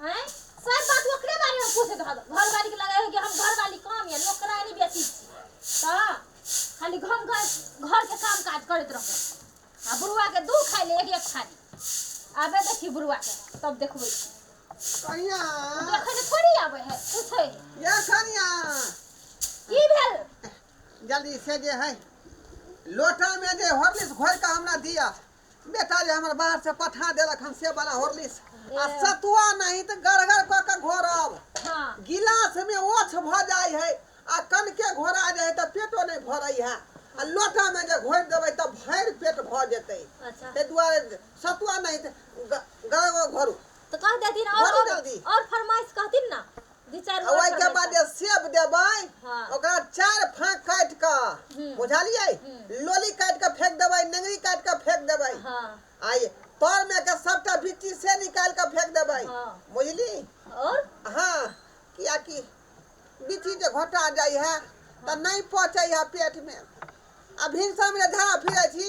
आँय सब बात ओकरे बारे में पूछे घर घरवाली के लगे कि हम घरवाली काम या नौकरानी बेटी छी तो खाली घर घर घर के काम काज करत रहो आ बुढ़वा के दू खाई ले एक एक थाली आबे देखी बुढ़वा के तब देखबे छी कनिया देखे ले थोड़ी आबे है पूछे है ये कनिया की भेल जल्दी से जे है लोटा में जे हॉर्लिक्स घोर के हमरा दिया बेटा जे हमरा बाहर से पठा देलक हन से बना होरलिस आ सतुआ नहीं तो गड़गड़ क के घोरब हाँ गिलास में ओछ भ जाय है आ कनके घोरा जाय है त पेटो नहीं भरै है आ लोटा में जे घोर देबै त भरि पेट भ जेतै अच्छा ताहि दुआरे सतुआ नहीं तो गड़गड़ घोरू तो कह देथिन और भोरे और, जल्दी। और फरमाइश कहथिन ना ओहिके बाद जे सेब देबै ओकरा चारि फाँक काटि कऽ बुझलियै लोली काटि कऽ फेंक देबै नेंगरी काटि कऽ फेंक देबै आ ई तरमे के सभटा बिच्ची से निकालि कऽ फेंक देबै बुझली और हँ कियाकि बिच्ची जे घोटा जाइ है तऽ नहि पचै है पेटमे आ भिनसरमे जे झाड़ा फिरै छी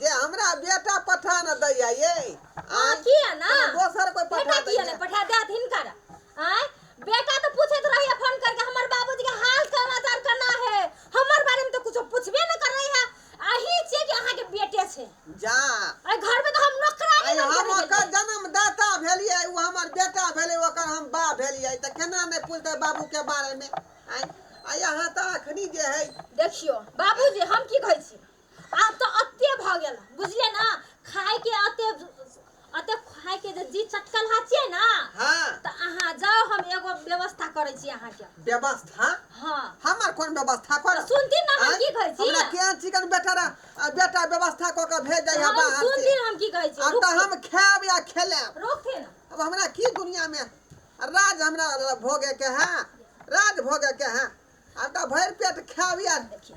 जे हमरा बेटा पठा न दैया ये हँ किया ना दोसर कोई बेटा पठा किया दैया ने पठा देत हिनकर आय बेटा तो पूछत रहिए फोन करके हमर बाबूजी के हाल समाचार केना है हमर बारे में तो कुछो पूछबे न करे है अही छियै कि अहाँ के बेटे छै जा एहि घर में तो हम नौकरानी आइ बन के हम रहि ओकर गेलियै। जन्मदाता भेलियै ओ हमर बेटा भेलै ओकर हम बा भेलियै तऽ केना नहि पूछतै बाबूके बारेमे आँय आइ अहाँ तऽ एखनी जे हइ देखियो बाबूजी हम की कहै छी आब तऽ अते भऽ गेल बुझलियै ने खायके अते अते खायके जे जी चटकल हा छियै ने हाँ तऽ अहाँ जाउ हम एगो व्यवस्था करै छी अहाँके व्यवस्था हँ हमर कोन व्यवस्था कर तऽ सुनती ने हम की कहै छी हमरा केहन चिकन बेटा रा- आ बेटा व्यवस्था कऽ के भेज जाइ तऽ हम बाहर सुनती से ने हम की कहै छी आब तऽ हम खायब या खेलेब रोकते ने अब हमरा की दुनिया में राज हमरा भोगे के है राज भोगे के है आब तऽ भरि पेट खायब या देखिए